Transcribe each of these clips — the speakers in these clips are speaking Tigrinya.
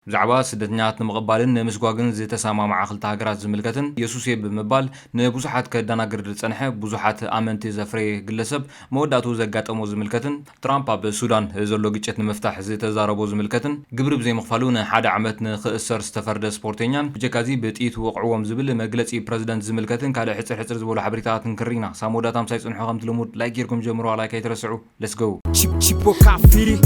ብዛዕባ ስደተኛታት ንምቕባልን ንምስጓግን ዝተሰማምዓ ክልተ ሃገራት ዝምልከትን የሱሴ ብምባል ንብዙሓት ከዳናግር ዝጸንሐ ብዙሓት ኣመንቲ ዘፍረየ ግለሰብ መወዳእትኡ ዘጋጠሞ ዝምልከትን ትራምፕ ኣብ ሱዳን ዘሎ ግጭት ንምፍታሕ ዝተዛረቦ ዝምልከትን ግብሪ ብዘይምኽፋሉ ንሓደ ዓመት ንክእሰር ዝተፈርደ ስፖርተኛን ብጀካዚ ብጥይት ወቕዕዎም ዝብል መግለጺ ፕረዚደንት ዝምልከትን ካልእ ሕጽር ሕጽር ዝበሉ ሓበሬታታት ክንክሪ ኢና ሳሞዳታ ምሳይ ጽንሑ ከምቲ ልሙድ ላይክ ጌርኩም ጀምሩዋ ላይክ ኣይትረስዑ let's go Chip Chip Kafiri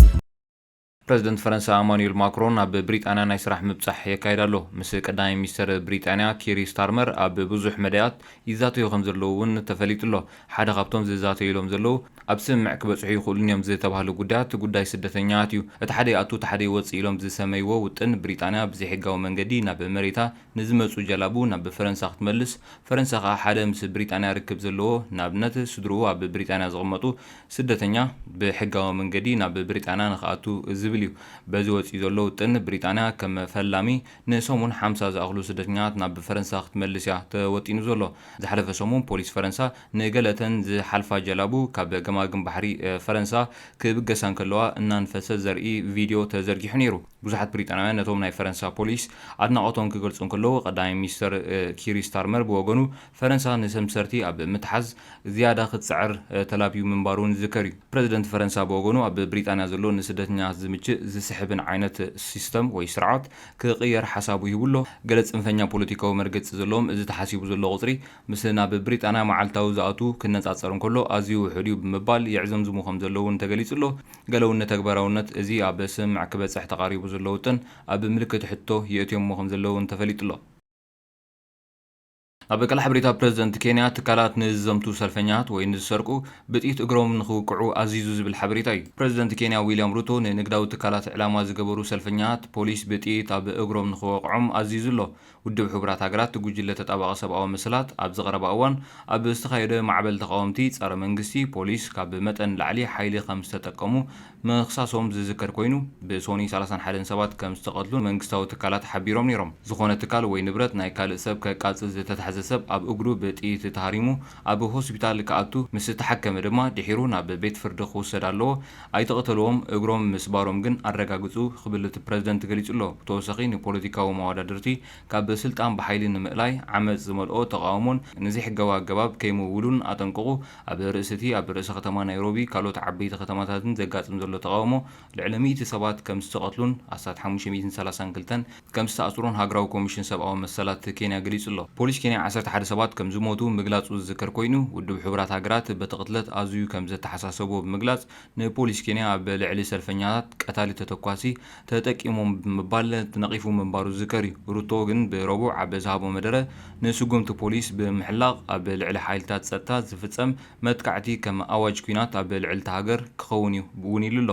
ፕረዚደንት ፈረንሳ ኣማኑኤል ማክሮን ኣብ ብሪጣንያ ናይ ስራሕ ምብጻሕ የካይድ ኣሎ። ምስ ቀዳማይ ሚኒስተር ብሪጣንያ ኪሪ ስታርመር ኣብ ብዙሕ መዳያት ይዛተዩ ከምዘለዉ እውን ተፈሊጡ'ሎ። ሓደ ካብቶም ዝዛተዩሎም ዘለዉ ኣብ ስምምዕ ክበጽሑ ይኽእሉን'ዮም ዝተባህሉ ጉዳያት ጉዳይ ስደተኛታት እዩ። እቲ ሓደ ይኣቱ እቲ ሓደ ይወጽእ ኢሎም ዝሰመይዎ ውጥን ብሪጣንያ ብዘይሕጋዊ መንገዲ ናብ መሬታ ንዝመጹ ጀላቡ ናብ ፈረንሳ ክትመልስ፣ ፈረንሳ ከኣ ሓደ ምስ ብሪጣንያ ርክብ ዘለዎ፣ ንኣብነት ስድርኡ ኣብ ብሪጣንያ ዝቕመጡ፣ ስደተኛ ብሕጋዊ መንገዲ ናብ ብሪጣንያ ንኽኣቱ ዝብል እዩ። በዚ ወጺኡ ዘሎ ውጥን ብሪጣንያ ከም ፈላሚ ንሰሙን ሓምሳ ዝኣኽሉ ስደተኛታት ናብ ፈረንሳ ክትመልስ እያ ተወጢኑ ዘሎ። ዝሓለፈ ሰሙን ፖሊስ ፈረንሳ ንገለ እተን ዝሓልፋ ጀላቡ ካብ ገማግም ባሕሪ ፈረንሳ ክብገሳ እንከለዋ እናንፈሰ ዘርኢ ቪድዮ ተዘርጊሑ ነይሩ። ብዙሓት ብሪጣንያውያን ነቶም ናይ ፈረንሳ ፖሊስ ኣድናቖቶም ክገልጹ እንከለዉ፣ ቀዳማይ ሚኒስተር ኪር ስታርመር ብወገኑ፣ ፈረንሳ ንሰምሰርቲ ኣብ ምትሓዝ ዝያዳ ክትጽዕር ተላብዩ ምንባሩ'ውን ዝዝከር እዩ። ፕረዚደንት ፈረንሳ ብወገኑ፣ ኣብ ብሪጣንያ ዘሎ ንስደተኛታት ዝምችእ ዝስሕብን ዓይነት ሲስተም ወይ ስርዓት ክቕየር ሓሳቡ ሂቡ ኣሎ። ገለ ጽንፈኛ ፖለቲካዊ መርገጺ ዘለዎም፣ እዚ ተሓሲቡ ዘሎ ቁጽሪ፣ ምስ ናብ ብሪጣንያ መዓልታዊ ዝኣትዉ ክነጻጸር እንከሎ ኣዝዩ ውሑድ እዩ ብምባል የዕዘምዝሙ ከም ዘለዉ እውን ተገሊጹ'ሎ። ገለ'ውን ንተግባራውነት እዚ ኣብ ስምምዕ ክበጽሕ ተቓሪቡ ዘሎ ውጥን ኣብ ምልክት ሕቶ የእትዮሞ ከም ዘለዉ እውን ተፈሊጡ'ሎ። ኣብ ቀላሕ ብሪታ ፕረዚደንት ኬንያ ትካላት ንዝዘምቱ ሰልፈኛታት ወይ ንዝሰርቁ ብጥይት እግሮም ንኽውቅዑ ኣዚዙ ዝብል ሓበሬታ እዩ። ፕረዚደንት ኬንያ ዊልያም ሩቶ ንንግዳዊ ትካላት ዕላማ ዝገበሩ ሰልፈኛታት ፖሊስ ብጥይት ኣብ እግሮም ንኽወቕዖም ኣዚዙ'ሎ። ውድብ ሕቡራት ሃገራት እቲ ጉጅለ ተጣባቒ ሰብኣዊ መሰላት ኣብዚ ቀረባ እዋን ኣብ ዝተኻየደ ማዕበል ተቓወምቲ ጸረ መንግስቲ ፖሊስ ካብ መጠን ንላዕሊ ሓይሊ ከም ዝተጠቀሙ ምኽሳሶም ዝዝከር ኮይኑ ብሶኒ ሰላሳን ሓደን ሰባት ከም ዝተቐትሉን መንግስታዊ ትካላት ሓቢሮም ነይሮም። ዝኾነ ትካል ወይ ንብረት ናይ ካልእ ሰብ ከቃጽል ዝተታሕዘ ሰብ ኣብ እግሩ ብጥይት ተሃሪሙ ኣብ ሆስፒታል ክኣቱ ምስ ተሓከመ ድማ ድሒሩ ናብ ቤት ፍርዲ ክውሰድ ኣለዎ ኣይተቐተልዎም፣ እግሮም ምስባሮም ግን ኣረጋግጹ ክብል እቲ ፕረዚደንት ገሊጹ'ሎ። ብተወሳኺ ንፖለቲካዊ መዋዳድርቲ ካብ ስልጣን ብሓይሊ ንምእላይ ዓመጽ ዝመልኦ ተቓውሞን ንዘይሕጋዊ ኣገባብ ከይምውሉን ኣጠንቀቑ። ኣብ ርእሲ'ቲ ኣብ ርእሰ ከተማ ናይሮቢ ካልኦት ዓበይቲ ከተማታትን ዘጋጥም ዘሎ ተቓውሞ ልዕሊ ሚእቲ ሰባት ከምዝተቐትሉን ኣስታት ሓሙሽተ ሚእትን ሰላሳን ክልተን ከም ዝተኣስሩን ሃገራዊ ኮሚሽን ሰብኣዊ መሰላት ኬንያ ገሊጹ ኣሎ። ፖሊስ ኬንያ ዓሰርተ ሓደ ሰባት ከም ዝሞቱ ምግላጹ ዝዝከር ኮይኑ፣ ውድብ ሕቡራት ሃገራት በቲ ቅትለት ኣዝዩ ከም ዘተሓሳሰቦ ብምግላጽ ንፖሊስ ኬንያ ኣብ ልዕሊ ሰልፈኛታት ቀታሊ ተተኳሲ ተጠቂሞም ብምባል ነቒፉ ምንባሩ ዝዝከር እዩ። ሩቶ ግን ብረቡዕ ኣብ ዝሃቦ መደረ ንስጉምቲ ፖሊስ ብምሕላቕ ኣብ ልዕሊ ሓይልታት ጸጥታ ዝፍጸም መጥቃዕቲ ከም ኣዋጅ ኲናት ኣብ ልዕሊ'ታ ሃገር ክኸውን እዩ እውን ኢሉ ኣሎ።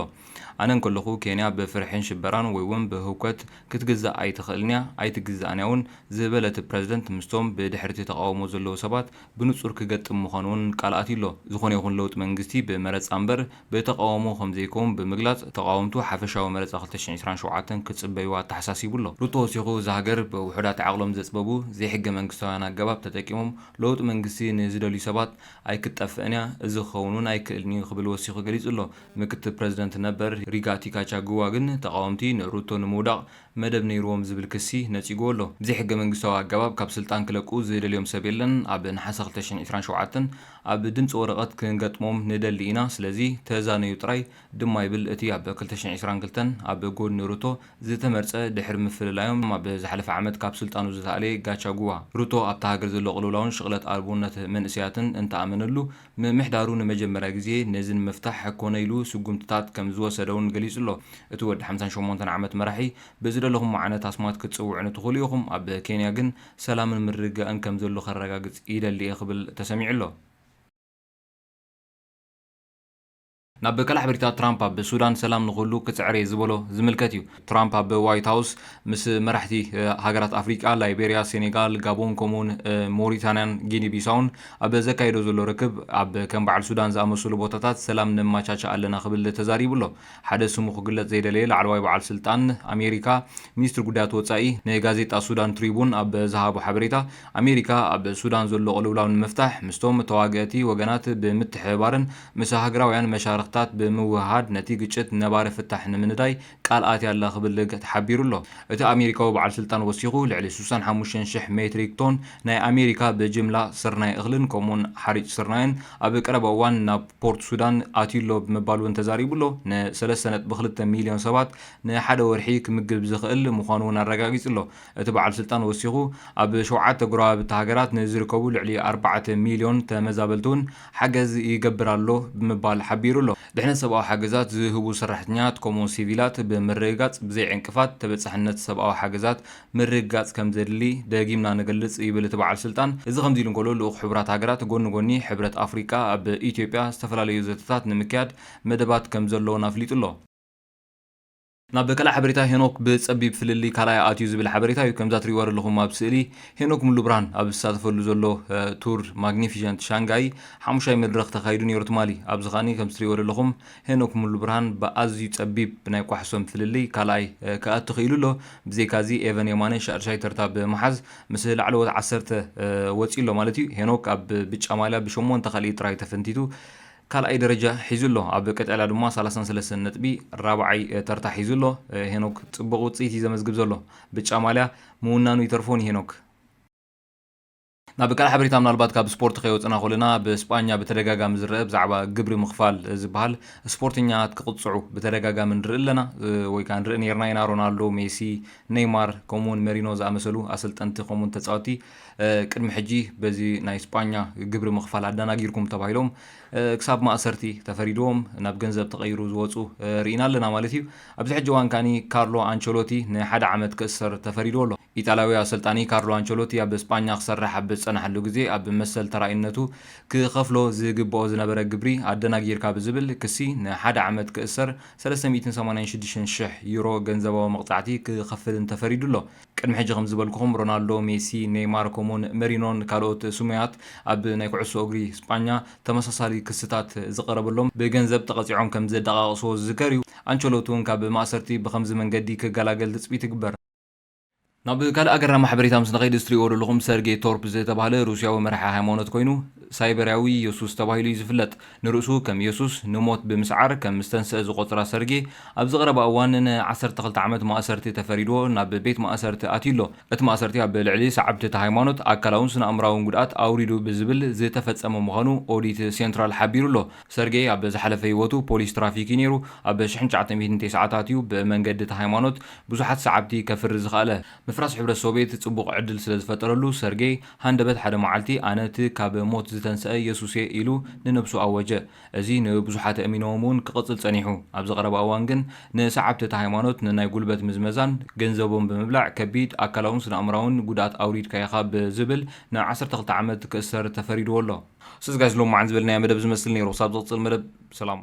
ኣነ እንከለኹ ኬንያ ብፍርሒን ሽበራን ወይ'ውን ብህውከት ክትግዛእ ኣይትኽእልን'ያ፣ ኣይትግዛእን'ያ'ውን ዝበለ እቲ ፕረዚደንት፣ ምስቶም ብድሕሪ'ቲ ተቓውሞ ዘለዉ ሰባት ብንጹር ክገጥም ምዃኑ'ውን ቃል ኣትዩ'ሎ። ዝኾነ ይኹን ለውጢ መንግስቲ ብመረጻ እምበር ብተቓውሞ ከምዘይከውን ብምግላጽ፣ ተቓወምቱ ሓፈሻዊ መረጻ ክልተ ሽሕን ዕስራን ሸውዓተን ክጽበዩ ኣተሓሳሲቡ'ሎ። ሩቶ ወሲኹ፣ እዛ ሃገር ብውሑዳት ዓቕሎም ዘጽበቡ ዘይሕገመንግስታውያን ኣገባብ ተጠቂሞም ለውጢ መንግስቲ ንዝደልዩ ሰባት ኣይክትጠፍእን'ያ፣ እዚ ክኸውን'ውን ኣይክእልን'ዩ ክብል ወሲኹ ገሊጹ'ሎ። ምክትል ፕረዚደንት ነበር ሪጋቲ ጋቻግዋ ግን ተቓወምቲ ንሩቶ ንምውዳቕ መደብ ነይሩዎም ዝብል ክሲ ነጺጉዎ ኣሎ። ብዘይሕገ መንግስታዊ ኣገባብ ካብ ስልጣን ክለቁ ዝደልዮም ሰብ የለን፣ ኣብ ነሓሰ ክልተ ሽሕን ዕስራን ሸውዓተን ኣብ ድምጺ ወረቐት ክንገጥሞም ንደሊ ኢና፣ ስለዚ ተዛነዩ ጥራይ ድማ ይብል እቲ ኣብ ክልተ ሽሕን ዕስራን ክልተን ኣብ ጎድኒ ሩቶ ዝተመርጸ ድሕሪ ምፍልላዮም ኣብ ዝሓለፈ ዓመት ካብ ስልጣኑ ዝተኣልየ ጋቻግዋ። ሩቶ ኣብታ ሃገር ዘሎ ቅልውላውን ሽቕለት ኣልቦነት መንእሰያትን እንተኣመነሉ፣ ምምሕዳሩ ንመጀመርያ ግዜ ነዚ ንምፍታሕ ኮነ ኢሉ ስጉምትታት ከም ዝወሰደ'ውን ገሊጹ ኣሎ። እቲ ወዲ ሓምሳን ሸሞንተን ዓመት መራሒ፣ ብዝደለኹሞ ዓይነት ኣስማት ክትጽውዑኒ ትኽእሉ ኢኹም፣ ኣብ ኬንያ ግን ሰላምን ምርግጋእን ከም ዘሎ ከረጋግጽ ይደሊ'የ ክብል ተሰሚዑ ኣሎ። ናብ ቀላሕ ብሪታ ትራምፕ ኣብ ሱዳን ሰላም ንኹሉ ክጽዕር እየ ዝበሎ ዝምልከት እዩ። ትራምፕ ኣብ ዋይት ሃውስ ምስ መራሕቲ ሃገራት ኣፍሪቃ፣ ላይቤሪያ፣ ሴኔጋል፣ ጋቦን ከምኡውን ሞሪታንያን ጊኒ ቢሳውን ኣብ ዘካይዶ ዘሎ ርክብ ኣብ ከም በዓል ሱዳን ዝኣመሰሉ ቦታታት ሰላም ነመቻችእ ኣለና ክብል ተዛሪቡ ኣሎ። ሓደ ስሙ ክግለጽ ዘይደለየ ላዕለዋይ በዓል ስልጣን ኣሜሪካ ሚኒስትሪ ጉዳያት ወጻኢ ንጋዜጣ ሱዳን ትሪቡን ኣብ ዝሃቦ ሓበሬታ ኣሜሪካ ኣብ ሱዳን ዘሎ ቅልውላው ንምፍታሕ ምስቶም ተዋገእቲ ወገናት ብምትሕብባርን ምስ ሃገራውያን መሻርኽታት ብምውህሃድ ነቲ ግጭት ነባሪ ፍታሕ ንምንዳይ ቃል ኣትያ ኣላ ክብል ተሓቢሩ ኣሎ። እቲ ኣሜሪካዊ በዓል ስልጣን ወሲኹ፣ ልዕሊ ስሳን ሓሙሽተን ሽሕ ሜትሪክ ቶን ናይ ኣሜሪካ ብጅምላ ስርናይ እኽልን ከምኡ'ውን ሓርጭ ስርናይን ኣብ ቀረባ እዋን ናብ ፖርት ሱዳን ኣትዩ'ሎ ብምባል'ውን ተዛሪቡ'ሎ። ንሰለስተ ነጥቢ ክልተ ሚልዮን ሰባት ንሓደ ወርሒ ክምግብ ዝኽእል ምዃኑ'ውን ኣረጋጊጹ'ሎ። እቲ በዓል ስልጣን ወሲኹ፣ ኣብ ሸውዓተ ጎረባብቲ ሃገራት ንዝርከቡ ልዕሊ ኣርባዕተ ሚልዮን ተመዛበልቲ'ውን ሓገዝ ይገብር ኣሎ ብምባል ሓቢሩ ኣሎ። ድሕነት ሰብኣዊ ሓገዛት ዝህቡ ሰራሕተኛታት ከምኡ ሲቪላት ብምርግጋጽ ብዘይ ዕንቅፋት ተበጻሕነት ሰብኣዊ ሓገዛት ምርግጋጽ ከምዘድሊ ደጊምና ንገልጽ ይብል እቲ በዓል ስልጣን። እዚ ከምዚ ኢሉ እንከሎ ልኡኽ ሕቡራት ሃገራት ጎኒ ጎኒ ሕብረት ኣፍሪቃ ኣብ ኢትዮጵያ ዝተፈላለዩ ዘተታት ንምክያድ መደባት ከምዘለዉን ኣፍሊጡ ኣሎ። ናብ ካልእ ሓበሬታ ሄኖክ ብጸቢብ ፍልልይ ካልኣይ ኣትዩ ዝብል ሓበሬታ እዩ። ከምዛ ትሪእዋ ዘለኹም ኣብ ስእሊ ሄኖክ ሙሉብርሃን ኣብ ዝሳተፈሉ ዘሎ ቱር ማግኒፊሸንት ሻንጋይ ሓሙሻይ መድረኽ ተኻይዱ ኔሩ ትማሊ። ኣብዚ ከኣ ከምቲ ትሪእዎ ዘለኹም ሄኖክ ሙሉብርሃን ብኣዝዩ ጸቢብ ብናይ ኳሕሶም ፍልልይ ካልኣይ ክኣቱ ክኢሉ ኣሎ። ብዘይካ እዚ ኤቨን የማነ ሻድሻይ ተርታ ብምሓዝ ምስ ላዕለዎት ዓሰርተ ወጺኡ ኣሎ ማለት እዩ። ሄኖክ ኣብ ብጫ ማልያ ብሸሞንተ ካልኢት ጥራይ ተፈንቲቱ። ካልኣይ ደረጃ ሒዙ ኣሎ። ኣብ ቀጠልያ ድማ ሰላሳን ሰለስተን ነጥቢ ራብዓይ ተርታ ሒዙ ኣሎ። ሄኖክ ጽቡቕ ውጽኢት እዩ ዘመዝግብ ዘሎ። ብጫ ማልያ ምውናኑ ይተርፎ ንሄኖክ። ናብ ካልእ ሓበሬታ ምናልባት ካብ ስፖርት ከይወጽእና ኮለና ኣብ ስጳኛ ብተደጋጋሚ ዝረኣ ብዛዕባ ግብሪ ምኽፋል ዝበሃል ስፖርተኛታት ክቕጽዑ ብተደጋጋሚ ንርኢ ኣለና ወይ ከኣ ንርኢ ኔርና ኢና ሮናልዶ ሜሲ ነይማር ከምኡውን መሪኖ ዝኣመሰሉ ኣሰልጠንቲ ከምኡውን ተጻወቲ ቅድሚ ሕጂ በዚ ናይ ስጳኛ ግብሪ ምኽፋል ኣዳናጊርኩም ተባሂሎም ክሳብ ማእሰርቲ ተፈሪድዎም ናብ ገንዘብ ተቐይሩ ዝወጹ ርኢና ኣለና ማለት ኢዩ። ኣብዚ ሕጂ እዋን ከኣ ካርሎ ኣንቸሎቲ ንሓደ ዓመት ክእሰር ተፈሪድዎ ኣሎ። ኢጣልያዊ ኣሰልጣኒ ካርሎ ኣንቸሎቲ ኣብ ስጳኛ ክሰርሕ ኣብ ዝጸንሓሉ ግዜ ኣብ መሰል ተራኢነቱ ክኸፍሎ ዝግብኦ ዝነበረ ግብሪ ኣደናጊርካ ብዝብል ክሲ ንሓደ ዓመት ክእሰር ሰለስተ ሚእትን ሰማንያን ሽዱሽተን ሽሕ ዩሮ ገንዘባዊ መቕጻዕቲ ክኸፍልን ተፈሪዱ ኣሎ። ቅድሚ ሕጂ ከም ዝበልኩኹም ሮናልዶ፣ ሜሲ፣ ኔይማር ከምኡውን መሪኖን ካልኦት ስሙያት ኣብ ናይ ኩዕሶ እግሪ ስጳኛ ተመሳሳሊ ክስታት ዝቐረበሎም ብገንዘብ ተቐጺዖም ከም ዘደቓቕስዎ ዝዝከር እዩ። ኣንቸሎቲ እውን ካብ ማእሰርቲ ብኸምዚ መንገዲ ክገላገል ትጽቢት ይግበር። ናብ ካልእ ኣገራሚ ሓበሬታ ምስ ንኸይድ እዚ ትርእይዎ ዘለኹም ሰርጌ ቶርፕ ዝተባህለ ሩስያዊ መራሒ ሃይማኖት ኮይኑ ሳይበርያዊ የሱስ ተባሂሉ እዩ ዝፍለጥ። ንርእሱ ከም የሱስ ንሞት ብምስዓር ከም ዝተንስኣ ዝቖጽራ ሰርጌ፣ ኣብዚ ቀረባ እዋን ን ዓሰርተ ክልተ ዓመት ማእሰርቲ ተፈሪድዎ ናብ ቤት ማእሰርቲ ኣትዩ ኣሎ። እቲ ማእሰርቲ ኣብ ልዕሊ ሰዓብቲ እታ ሃይማኖት ኣካላውን ስነኣእምሮኣውን ጉድኣት ኣውሪዱ ብዝብል ዝተፈጸመ ምዃኑ ኦዲት ሴንትራል ሓቢሩ ኣሎ። ሰርጌ ኣብ ዝሓለፈ ህይወቱ ፖሊስ ትራፊክ እዩ ነይሩ። ኣብ ሽሕን ትሽዓተ ሚእትን ቴስዓታት እዩ ብመንገዲ እታ ሃይማኖት ብዙሓት ሰዓብቲ ከፍሪ ዝኸኣለ። ምፍራስ ሕብረት ሶቬት ጽቡቕ ዕድል ስለ ዝፈጠረሉ፣ ሰርጌይ ሃንደበት ሓደ መዓልቲ፣ ኣነ እቲ ካብ ሞት ዝተንስኣ የሱስ እየ ኢሉ ንነብሱ ኣወጀ። እዚ ንብዙሓት ኣእሚኖዎም እውን ክቕጽል ጸኒሑ። ኣብዚ ቀረባ እዋን ግን ንሰዓብቲ እታ ሃይማኖት ንናይ ጉልበት ምዝመዛን ገንዘቦም ብምብላዕ ከቢድ ኣካላውን ስነኣእምሮኣውን ጉድኣት ኣውሪድካ ኢኻ ብዝብል ን ዓሰርተ ክልተ ዓመት ክእሰር ተፈሪድዎ ኣሎ። ሰዝጋይስ ሎምዓንቲ ዝበልናዮ መደብ ዝመስል ነይሩ ክሳብ ዝቕጽል መደብ ሰላም።